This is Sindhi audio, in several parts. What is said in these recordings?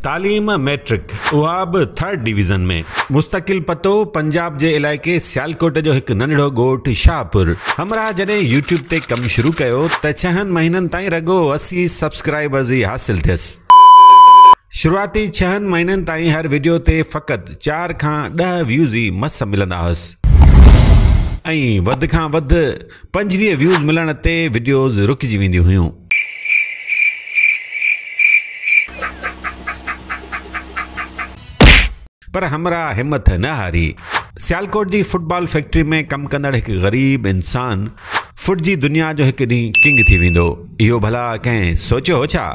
تعليم مئٽرڪ اها به ٿرڊ ڊويزن ۾. مستقل پتو، پنجاب جي علائقي سيالڪوٽ جو هڪ ننڍڙو ڳوٺ شاهپور. همراهه جڏهن يوٽيوب تي ڪم شروع ڪيو ته ڇهن مهينن تائين رڳو اسي سبسڪرائبرز ئي حاصل ٿيس. شروعاتي ڇهن مهينن تائين هر وڊيو تي فقط چار کان ڏهه ويوز ئي مس ملندا هئس ۽ وڌ کان وڌ. پنجويهه ويوز ملڻ تي وڊيوز رڪجي وينديون هيون. پر همراهه همٿ نه هاري. سيالڪوٽ جي فوٽ بال فيڪٽري ۾ ڪم ڪندڙ هڪ غريب انسان فوٽ جي دنيا جو هڪ ڏينهن ڪنگ ٿي ويندو. اهو ڀلا ڪنهن سوچيو هو ڇا؟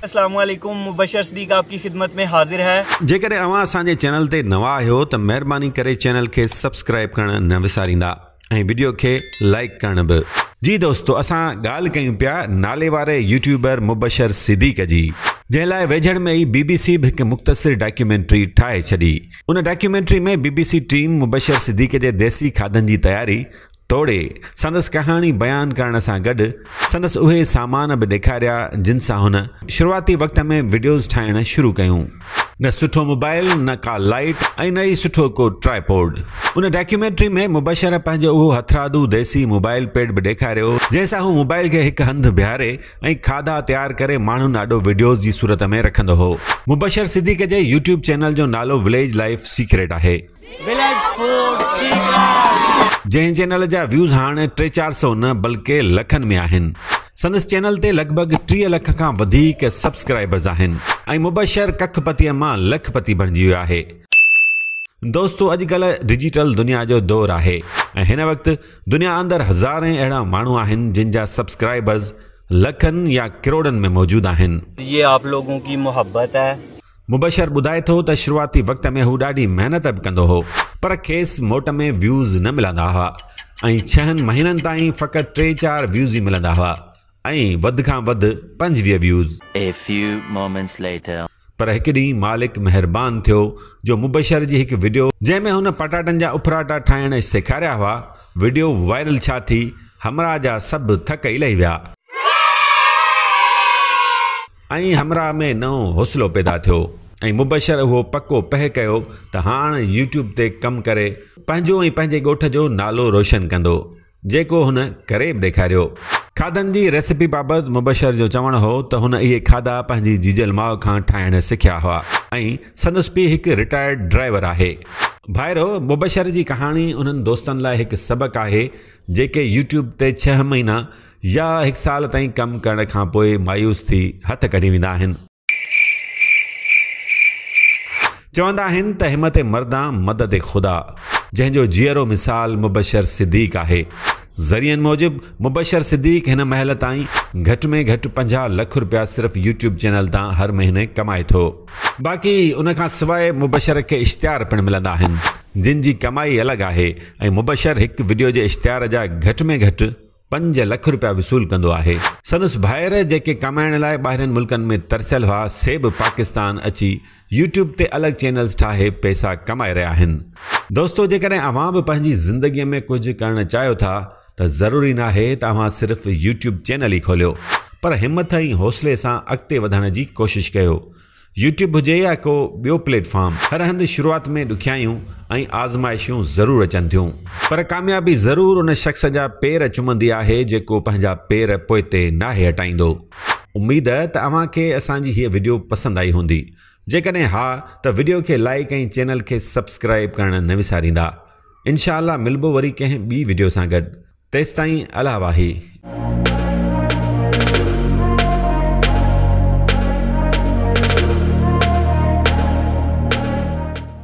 اسلام عليڪم مبشر صديق آپ ڪي خدمت مين حاضر هي. جيڪڏهن اوهان اسان جي چينل تي نوان آهيو ته مهرباني ڪري چينل کي سبسڪرائب ڪرڻ نه وساريندا ۽ وڊيو کي لائيڪ ڪرڻ به. جي دوستو اسان ڳالهه ڪيون پيا ناليواري يوٽيوبر مبشر صديق جي. جنهن لاء ويجهڙ ۾ ئي بي بي سي به هڪ مختصر ڊاڪيومينٽري ٺاهي ڇڏي. ان documentary ۾ B B C team Mubashir Siddique جي ديسي کاڌن جي تياري توڙي سندس ڪهاڻي بيان ڪرڻ سان گڏ سندس اهي سامان به ڏيکاريا جن سان هن شروعاتي وقت ۾ وڊيوز ٺاهڻ شروع ڪيون. نه سٺو موبائل، نه ڪا لائيٽ ۽ نه ئي سٺو ڪو ٽرائي پوڊ. ان ڊاڪيومينٽري ۾ مبشره پنهنجو اهو هٿرادو ديسي موبائل پيڊ به ڏيکاريو جنهن سان هو موبائل کي هڪ هنڌ بيهاري ۽ کاڌا تيار ڪري ماڻهن آڏو وڊيوز جي صورت ۾ رکندو هو. مبشر صديق جي يوٽيوب چينل جو نالو وليج لائيف سيڪريٽ آهي. جنهن چينل جا ويوز هاڻ ٽي چار سئو نه بلڪه لکن ۾ آهن. سندس چينل تي لڳ ڀڳ ٽيهه لک کان وڌيڪ سبسڪرائبرز آهن ۽ مبشر ڪک پتيء مان لک پتي بڻجي ويو آهي. دوستو اڄ ڪلهه ڊجيٽل دنيا جو دور آهي ۽ هن وقت دنيا اندر هزارين اهڙا ماڻهو آهن جن جا سبسڪرائبرز لکن يا ڪروڙن ۾ موجود آهن. يي آپ لوگون ڪي محبت هي. مبشر ٻڌائي ٿو ته شروعاتي وقت ۾ هو ڏاڍي محنت به ڪندو هو پر کيس موٽ ۾ ويوز نه ملندا هئا ۽ ڇهن مهينن تائين فقط ٽي چار ويوز ئي ملندا هئا ۽ وڌ کان وڌ پنجويهه ويوز. پر هڪ ڏينهن مالڪ مهربان ٿيو جو مبشر جي هڪ وڊيو جنهن ۾ هن پٽاٽن جا اڦراٽا ٺاهڻ سيکاريا هئا وڊيو وائرل ڇا ٿي همراهه جا سڀ ٿڪ ئي لهي ويا. ۽ همراهه ۾ نئون حوصلو پيدا ٿيو ۽ مبشر اهو پڪو پهه ڪيو ته هاڻ يوٽيوب تي ڪم ڪري پنهنجو ۽ پنهنجي ڳوٺ جو نالو روشن ڪندو جيڪو هن ڪري به ڏيکاريو. کاڌن جي ريسيپي بابت مبشر جو چوڻ هو ته هن اهي کاڌا پنهنجي جيجل ماء کان ٺاهڻ سکيا هئا ۽ سندس پيء هڪ رٽائرڊ ڊرائيور آهي. ڀائرو، مبشر جي ڪهاڻي انهن دوستن لاء هڪ سبق آهي جيڪي يوٽيوب تي ڇهه مهينا يا هڪ سال تائين ڪم ڪرڻ کان پوء مايوس ٿي هٿ ڪڍي ويندا آهن. چوندا آهن ته همت مردان مدد خدا، جنهن جو جيئرو مثال مبشر صديق آهي. ذريعن موجب مبشر صديق هن مهل تائين گهٽ ۾ گهٽ پنجاهه لک رپيا صرف يوٽيوب چينل تان هر مهيني ڪمائي ٿو. باقي ان کان سواء مبشر کي اشتهار پڻ ملندا آهن، جن جي ڪمائي الڳ آهي ۽ مبشر هڪ وڊيو جي اشتهار جا گهٽ ۾ گهٽ پنج لک روپيا وصول ڪندو آهي. سندس ڀائر جيڪي ڪمائڻ لاء ٻاهرين ملڪن ۾ ترسيل هئا سي به پاڪستان اچي يوٽيوب تي الڳ چينلز ٺاهي پئسا ڪمائي رهيا آهن. دوستو جيڪڏهن اوهان به پنهنجي زندگي ۾ ڪجهه ڪرڻ چاهيو ٿا ته ضروري ناهي ته اوهان صرف يوٽيوب چينل ئي کوليو پر همٿ ۽ حوصلي سان اڳتي وڌڻ جي ڪوشش ڪيو. يوٽيوب هجي يا ڪو ٻيو پليٽ فارم هر هنڌ شروعات ۾ ڏکيائيون ۽ آزمائشون ضرور اچن ٿيون پر ڪاميابي ضرور ان شخص جا پير چمندي آهي جيڪو پنهنجا پير پوئتي ناهي هٽائيندو. اميد ته اوهان کي اسان جي هيء وڊيو پسند آئي هوندي جيڪڏهن ها ته وڊيو کي لائيڪ ۽ چينل کي سبسڪرائيب ڪرڻ نه وساريندا انشاء الله ملبو وري ڪنهن ٻي وڊيو سان گڏ. تيستائين الا واهي.